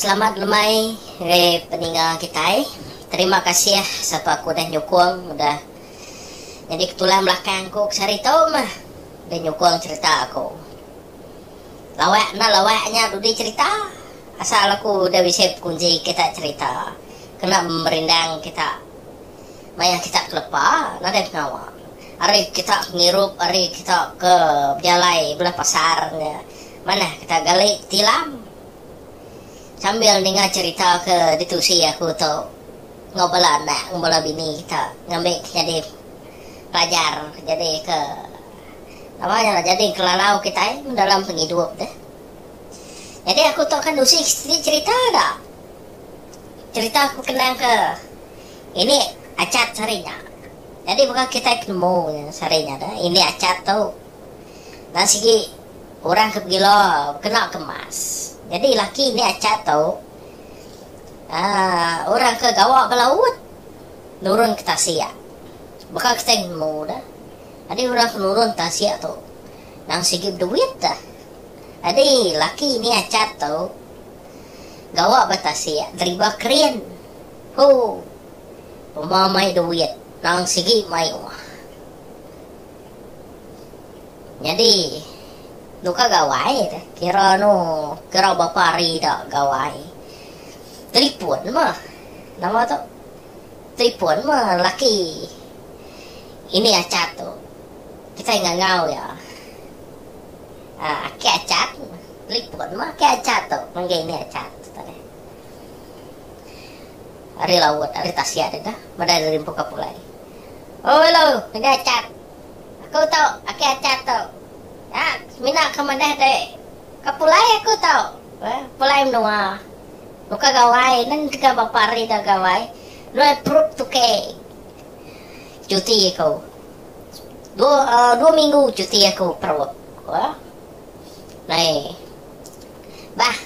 Selamat lemai ngagai peninga kitai. Terima kasih sapa ke udah nyukung udah Nyadi ke tulang belakang aku ke sehari tu meh deh nyukung cherita aku. Lawak enda lawak nya dudi cherita asal aku deh bisi bekunji kita cherita kena merindang kita maya kita ke lepa nadai pengawa. Ari kita ke ngirup ari kita ke bejalai bela pasar nya manah kita gali tilam sambil ninga cherita ke ditusi aku tu. enggau bala anak enggau bala bini kita ngambi ke nyadi pelajar nyadi ke nama nya lah nyadi ke lalau kitai dalam pengidup deh. Nyadi aku tu akan nusi siti cerita da cerita aku kenang ke ini achat sehari nya. Nyadi mega kitai penemu sehari nya deh ini achat tu enda sigi orang ke begilo kena ke mas. Nyadi laki ini achat tu. orang ke gawa ba laut nurun ke tasik baka kitai nemu da nyadi orang ke nurun tasik tu nang sigi beduit da nyadi laki ni achat tu gawa ba tasik deriba kren hoo uma mai duit nang sigi mai uma. Nyadi nuka gawai te kira anu kira bapa hari da gawai telipon meh nama tu telipon meh laki ini achat tu kitai ngangau iya aki achat telipon meh aki achat tu nganggai ini achat ari laut ari tasik deka meda rimpu kapulai. Ulu, Keja Achat. Aku tu, laki Achat tu. Nya, semina ke madah deh. Ka pulai aku tu. Pulai menua. Nuka gawai. Neng deka bapa hari da gawai. Nuan perut tuke. Cuti aku. Dua minggu cuti aku perut. Nei. Bah.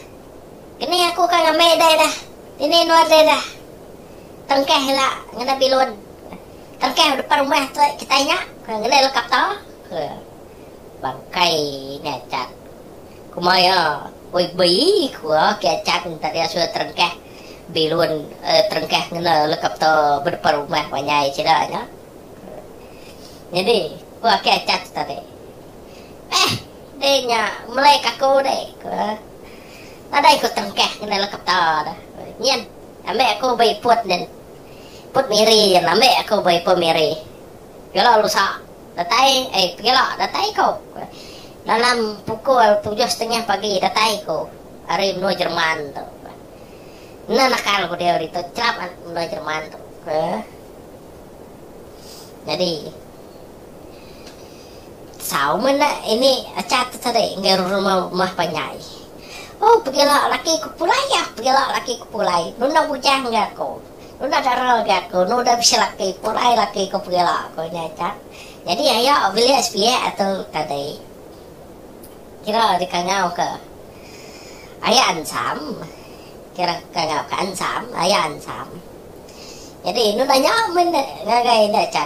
Keni aku ka ngambi deh dah. Dini nuan deh dah. Tengkeh ila ngena bilun. Tengkeh depan rumah tu kitai nya ke ngena helikopter ke bangkai nya acat. Kuma iya, Oi bi ku aki acat minta dia suruh terengkeh bilun eh terengkeh ngena helikopter ba depan rumah banyai sida nya. Nyadi ku aki acat tu tadi. Beh deh nya melai kaku deh ku. Nadai ku tengkah ngena leketa tu. Nyin, ambi aku ba iput nyin. Iput Miri nyin ambi aku ba ipu Miri. Pegila lusa datai ai pegila datai ku. Dalam pukul tujuh setengah pagi datai ku ari menua Jerman tu. Enda nakal ku dia hari tu chelap menua Jerman tu. Jadi. Sau menda ini acha teteri enggau rerumau rumah panjai. Oh pegila laki ku pulai yah pegila laki ku pulai nunda bujang ga aku nunda dara ga aku nunda bisi laki pulai laki ku pegila ku nya aja nyadi aya bilik sepiak atu tadi kira dikangau ke aya ensam kira kangau ke ensam aya ensam nyadi nunda nya min ngagai enda aja.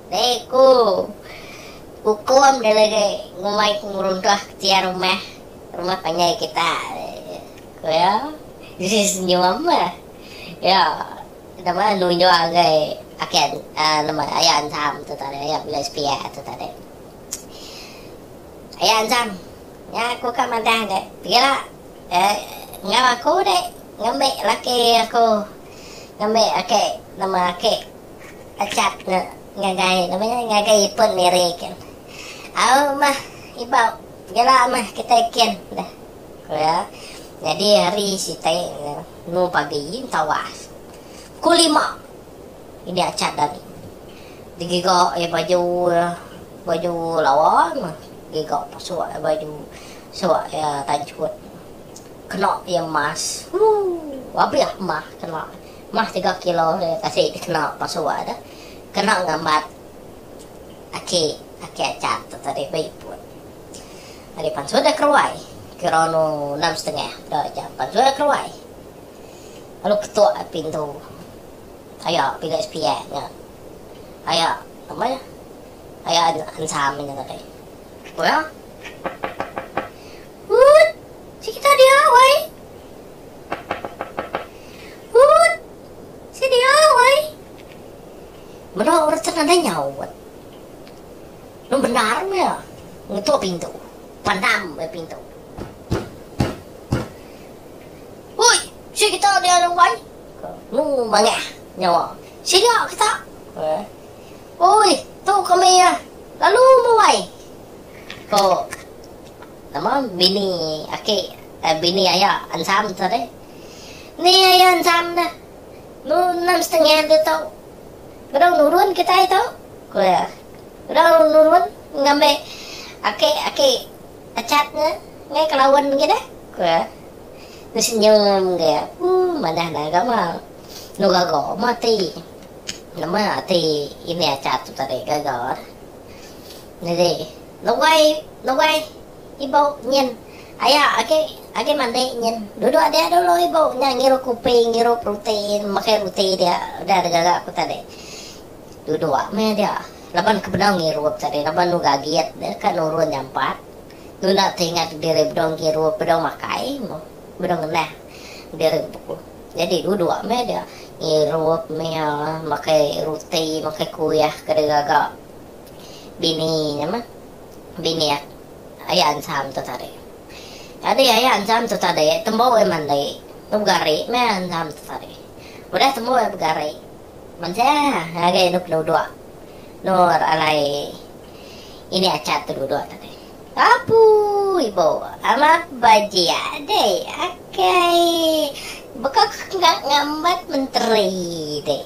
Te ku ukum delegai ngumbai pengeruntuh ketiar rumah rumah panjai kita, ku iya. Diri senyum iya nama nunjuk ngagai aki nama aya Anzam tu tadi aya bela sepia tu tadi. Aya Anzam nya aku ka madah dek pia enggau aku dek ngambi laki aku ngambi aki nama aki Pechat enda ngagai nama nya ngagai ipun Mary kin. Au mah ibau gila mah kitai kin deh ku iya. Nyadi hari sitai endur pagi tawas pukul lima ini achat ari. Digiga iya baju iya baju lawa mah giga pasuk iya baju suk iya tanchut. Kena iya mask. Ooh abih mah kena. Mah tiga kilo nya kasi dikena pasua deh kena ngambat aki aki aja tu tadi ba ipun. Ari pansut deh keruai kira anu enam setengah peda jam pansut deh keruai lalu ketuk pintu aya pintu SPF nya aya nama nya aya ensam nya tadi. Nya. Uut. Sik kita dia wei. Ut! Siti oi! Melo Orchard nadai nyaut. Nun bendar meh iya ngetuk pintu. Pandam meh pintu. Oi! Sik kita dia anu ai. Ko Nunu mangah nyawa. Sida kita. Oi! Tu kami lalu meh wai. Ko. Nama bini aki eh bini aya ensam tu deh. Ni aya ensam dah. Nu enam setengah tu tu. Bedau nurun kitai tu. Ku iya. Bedau nurun ngambi aki aki Achat nya ngai ke laun agi dah. Ku iya. Nu senyum agi iya. Uh manah dah gama. Nu gaga mah ati. Nama ati ini Achat tu tadi gaga dah. Nyadi luai luai ibu nyin aya agi agi mandi nyin duduk dia dulu ibu nya ngirup kopi ngirup roti makai roti dia udah da gaga ku tadi duduk meh dia laban ke bedau ngirup tadi laban enu gagit deka nurun nyampat tunda tingat diri bedau ngirup bedau makai bedau ngenah diri ku nyadi duduk meh dia ngirup meh makai roti makai kuih ke da gaga. Bini nama bini ak aya ancham tu tadi. Tadi aya ancham tu tadi tembu ai mandi begari meh ancham tu tadi. Udah tembu ai begari mansah agi anu penuduk endur alai ini achat tu duduk tadi. Apu ibu amat bajik deh akai bekak ngambat menteri deh.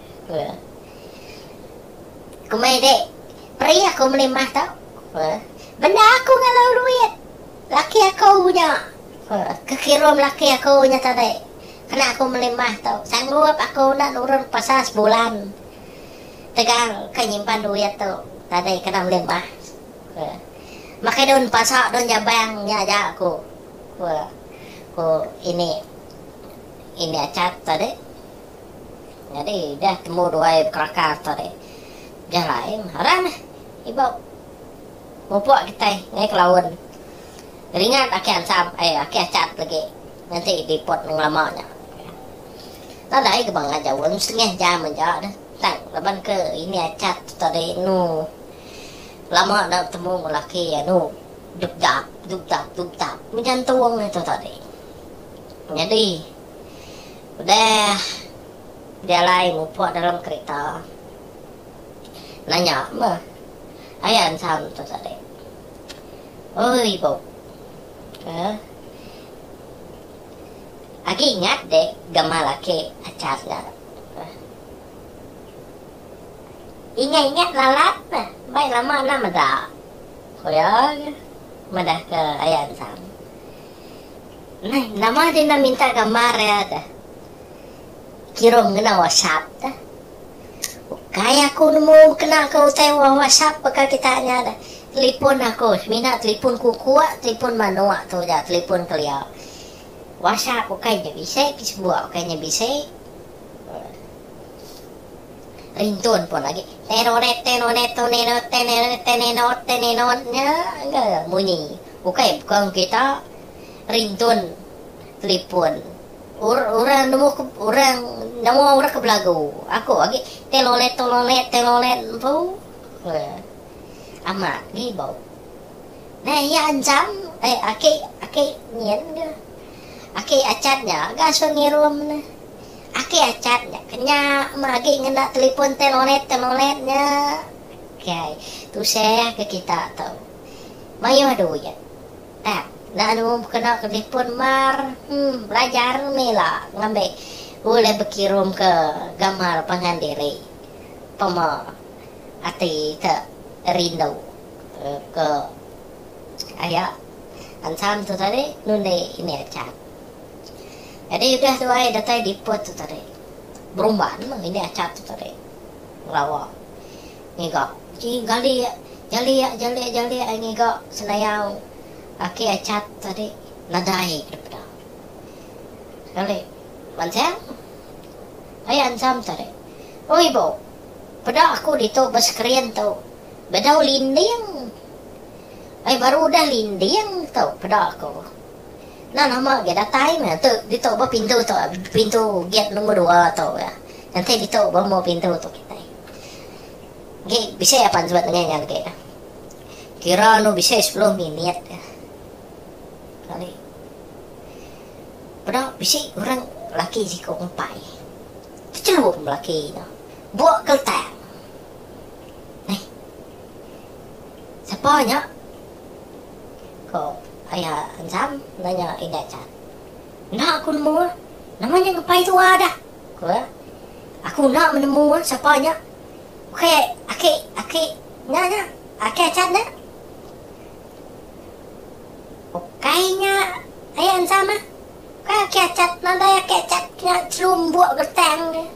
Kumai dek, peri aku meli mah tu. Bendar aku ngalau duit. Laki aku nya. Kekirum laki aku nya tadi. Kena aku meli mah tu. Sanggup aku enda nurun pasal sebulan. Tegal ke nyimpan duit tu tadi kena meli mah. Makai daun pasa, daun jabang nya aja aku. Ku ini Achat tadi. Nyadi udah tembu duai bekelaka tu deh. Jah lain haran meh iba mupuk kitai ngai ke laun. Ringat aki ansam ai aki achat legi ngenti diput ngelama nya. Nadai ke bangah jaun setengah jam aja deh tang laban ke ini achat tu tadi anu lama enda betemu enggau laki anu dupdap dupdap dupdap menyantung tu tadi. Nyadi. Udah dialai mupuk dalam kerita, nanya meh aya ensam tu tadi. Oh ibu, ke agi ingat dek gamal aki Achar nya. Ingat-ingat lalat meh, mbai lama enda meda, ku iya madah ke aya ensam. Meh nama deh enda minta gambar iya deh kirum ngena whatsapp deh. Ukai aku nemu kena ke utai whatsapp baka kita nya deh. Telipon aku semina telipon kukuk, telipon manuk tu ja telipon kelia. Whatsapp ukai nya bisi ke sebuk ukai nya bisi. Rintun pun agi. Teroretenonetoneroteneretenenotenenon nya engka munyi. Ukai baka kita rintun telipon. Ur orang nemu ke orang nemu orang ke belagu. Aku agi telolet tololet telolet empu. Amat agi bau. Nah iya anjam eh aki aki nyin ke. Aki Achat nya gasun ngirum ne. Aki Achat nya ke nya meh agi ngena telipon telolet-telolet nya. Kai, tusah ke kita tu. Mayuh duit. Tap, enda anu kena ke telipon mar. Hum, belajar meh ila ngambi ulih bekirum ke gambar pangan diri. Pema ati te rindu ke. Sekaya ensam tu tadi nundi ini aja. Jadi udah tu ai datai diput tu tadi. Berumban meng ini aja tu tadi. Ngelawa. Ngiga. Ji gali ya. Jali ya, jali ya, jali ya ai ngiga senayau laki aja tu tadi nadai ke dipeda. Sekali mansang ai ensam tadi. Oh ibu, peda aku ditu ba skrin tu. Bedau linding. Ai baru udah linding tu peda aku. Nah nama ga datai meh tu ditu ba pintu tu pintu gate nombor dua tu ga. Enti ditu ba mu pintu tu kitai. Gi bisi apan suba tengah nya agi. Kira anu bisi sepuluh minit ga. Kali. Peda bisi orang laki siku empai. Techelup laki tu. Bua keltang. Ai. Sapa nya? Ko Aya Enzam nanya Indah Chan. Enda aku nemu. Nama nya ngepai tua dah. Ko iya. Aku enda menemu sapa nya. Ukai aki aki nya nya. Aki Achan nya. Ukai nya Aya Enzam ah. Ukai aki Achan. Nadai aki Achan nya chelu embuk betang dia.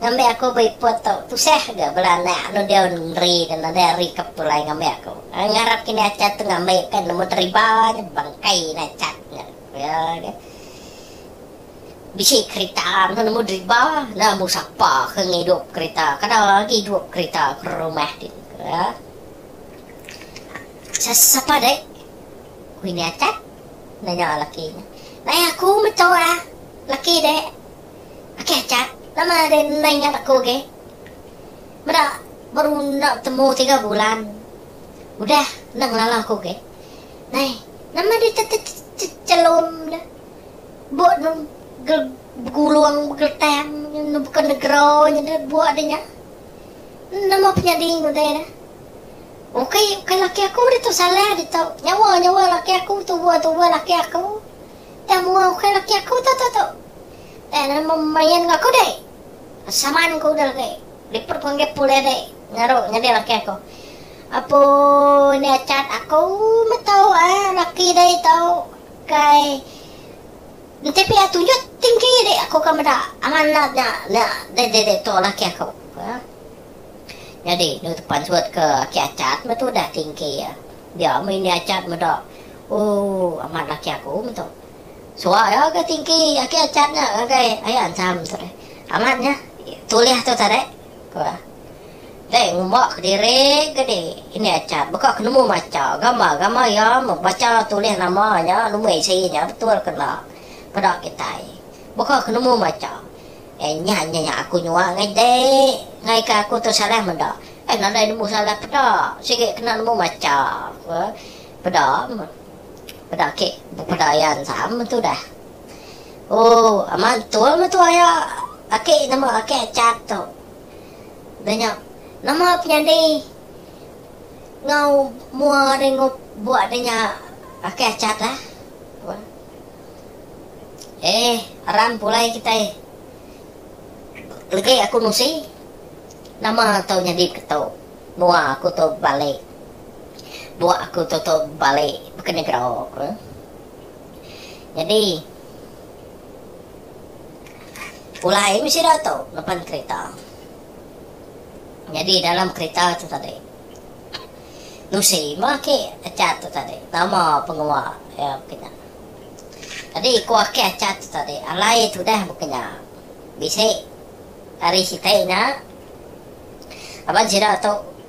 Ngambi aku ba iput tu tusah ga bala anak anu diau neri dan nadai ari ke pulai ngambi aku. Ngarap kini acha tu ngambi pen nemu deriba nya bangkai ina acha nya ya ke. Bisi kerita anu nemu deriba enda mbu sapa ke ngidup kerita kada agi idup kerita ke rumah ti ya. Sapa dek ku ini acha nanya laki nya. Nai aku meh tu ah laki dek. Ake aja lama deh ndai nyat aku agi. Meda baru enda betemu tiga bulan udah enda ngelala aku agi. Nai, nama deh chelum deh. Buk ne begulung begeletang nebuka negera nya deh buk deh nya. Nama penyadi udah deh. Ukai ukai laki aku ditu salah ditu. Nyawa nyawa laki aku tuba tuba laki aku. Tang mua ukai laki aku tu tu tu. Tang enda nemu merian enggau aku deh. Saman ku udah agi liput penggi pulih deh ngeru nyadi laki aku. Apu nya chat aku meh tu ai laki deh tu ukai enti pia tunjut tinggi deh aku ka meda angan enda nya nya deh deh deh tu laki aku. Nyadi nu tu pansut ke aki Achat meh tu udah tinggi. Dia meh ini Achat meda Ooh amat laki aku meto. Suah iya ga tingki aki achat nya ngagai aya ancham tadi. Amat nya tulih tu tadi ku iya. Deh ngumba kediri ga di ini achat baka ke nemu macha gambar-gambar iya meh bacha tulih nama nya lumui isi nya betul ke enda peda kitai. Baka ke nemu macha. Eh nya nya nya aku nyua ngai dek ngai ke aku tu salah meda. Eh nadai nemu salah peda sigi kena nemu macha ku iya. Peda, peda kek peda iya ensam tu dah. Ooh amat betul metu aya ake nama ake chat tu. Dah nya nama penyadi ngau mua ringup buak dah nya ake chat dah. Eh aram pulai kitai legi aku nusi nama tu nyadi ke tu mua aku tu balik. Buah aku tutup bali baka negera ku. Nyadi pulai meh sida tu ngeban kerita. Nyadi dalam kerita tu tadi nusi meh aki Achat tu tadi nama pengawa iya baka nya. Tadi ku aki Achat tu tadi alai tudah baka nya. Bisi ari siti nya laban sida tu.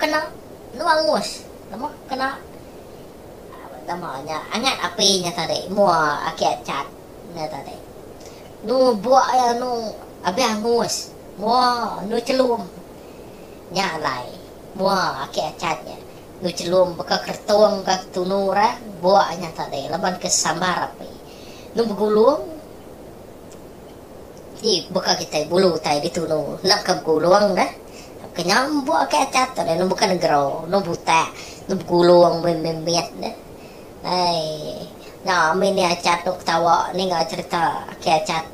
kena menua rumus nama kena nama nya angat api nya tadi mua aki achat nya tadi nu buk iya nu abih angus mua nu chelum nya alai mua aki achat nya nu chelum baka keretung ka ketunu orang buk nya tadi laban ke sambar api nu begulung. Ti baka kitai bulu utai ditunu enda ka begulung deh. Ke nya embok agi ati atur deh nemu ka negero, nemu butak, nemu begulung meh meh mit deh. Ai nya ami nih achat duk ketawa ninga cherita aki achat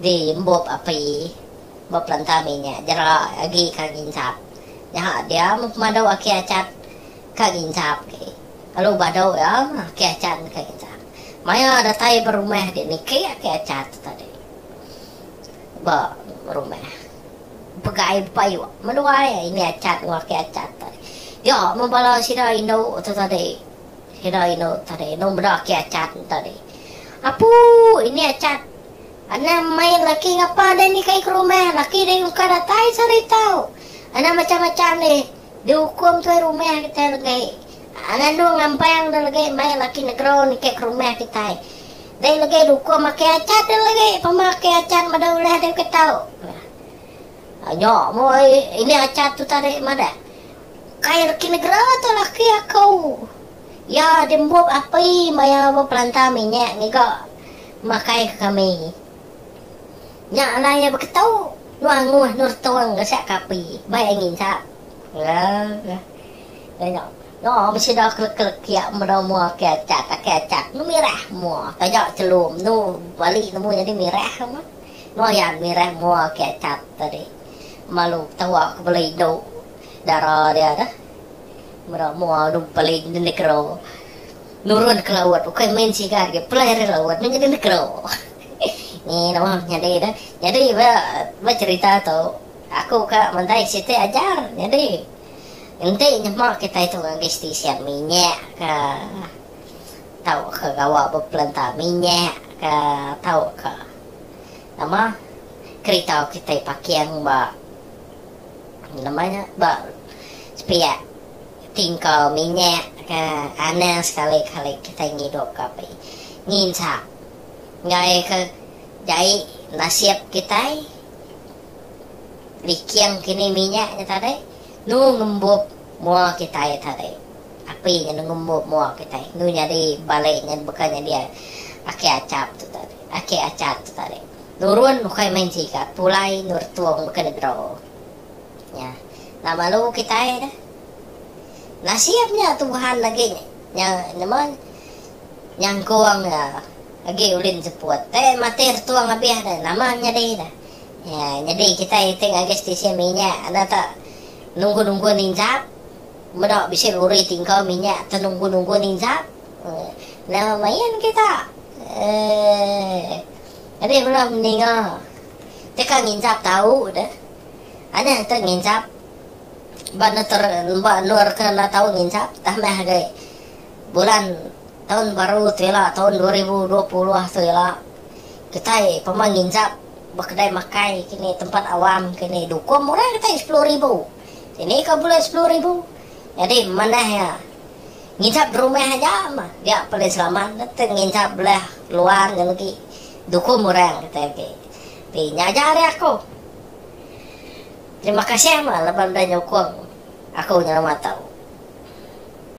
di embup api ba pelanta ami nya jera agi ka nginsap. Nyaha dia meh pemadu aki achat ka nginsap lalu badu iya meh aki achat ka nginsap. Maya datai ba rumah ti niki ati acha tu tadi ba rumah pega ai bepayuh meluai ini acha enggau ati acha tu tadi. Nya mun bala sida indu tu tadi sida indu tu tadi enda meda ati acha tu tadi. Apu ini acha anang mai laki ngapa deh ni kai ke rumah laki deh engka datai sehari tau. Anang macam-macam deh. Diukum tuai rumah kitai legi. Nganu ngampang deh legi mai laki negro nitih ke rumah kitai. Dei legi diukum aki acat deh legi pemah aki acat meda ulih deh ke tau. Nya. Nya meh ini acat tu tadi madah. Kai laki negro tu laki aku. Iya dimbup api maya bepelanta minyak ngiga makai ke kami. Nya alai iya beketu nuang muh Nur Tong ke siap kapi bai angi ensap. Lega. Iya nya. Noo meh sida kelekelekiak meda mua ake achat, ake achat. Nu mirah mua. Taja chelum nu bali nemu nyadi mirah meh. Nuang iya mirah mua ake achat tadi. Malu tewa ke bela indu dara dia tu. Meda mua nu beli di negero. Nurun deka laut ukai main sigar agi pelai ari laut meh nyadi negero. Ni noh nyadi dah. Nyadi ba cherita tu aku ka mandai siti ajar nyadi enti nyema kitai tu ngagi stesen minyak ka tau ka gawa ba pelenta minyak ka tau ka nama kerita kitai parking ba nama nya ba sepiak Enti engkau minyak ke anang sekali-kali kitai ngidup ke api nginsa enggai ke jai nasib kitai liking kini minyak nya tadi nu ngembup mua kitai tadi api nya nu ngembup mua kitai nu nyadi balik nya baka nyadi aki achap tu tadi aki achat tu tadi nurun ukai main sigat pulai nurtung baka ni bro. Nya lalu kitai dah nasib nya Tuhan agi nya nyema nyangkung nya agi ulin seput te matir tung abih dah nama nyadi dah nya nyadi kitai ti ngagai stesen minyak enda te nunggu-nunggu ninjap meda bisi lori ti engkau minyak te nunggu-nunggu ninjap nya main kita eh agi bala meninga teka ninjap tau dah. Anih engka ngincap ba neter ba endur ke enda tau ngincap tah meh agi bulan taun baru tu ila taun dua ribu dua puluh tu ila kitai pemah ngincap ba kedai makai kini tempat awam kini dukuh murah kitai sepuluh ribu dini ka bulai sepuluh ribu nyadi manah iya ngincap di rumah aja mah dia paling selamat nginchap belah luar ngan agi dukuh murah kitai agi. Ti nya aja ari aku. Terima kasih meh leban udah nyukung aku nyelama tu.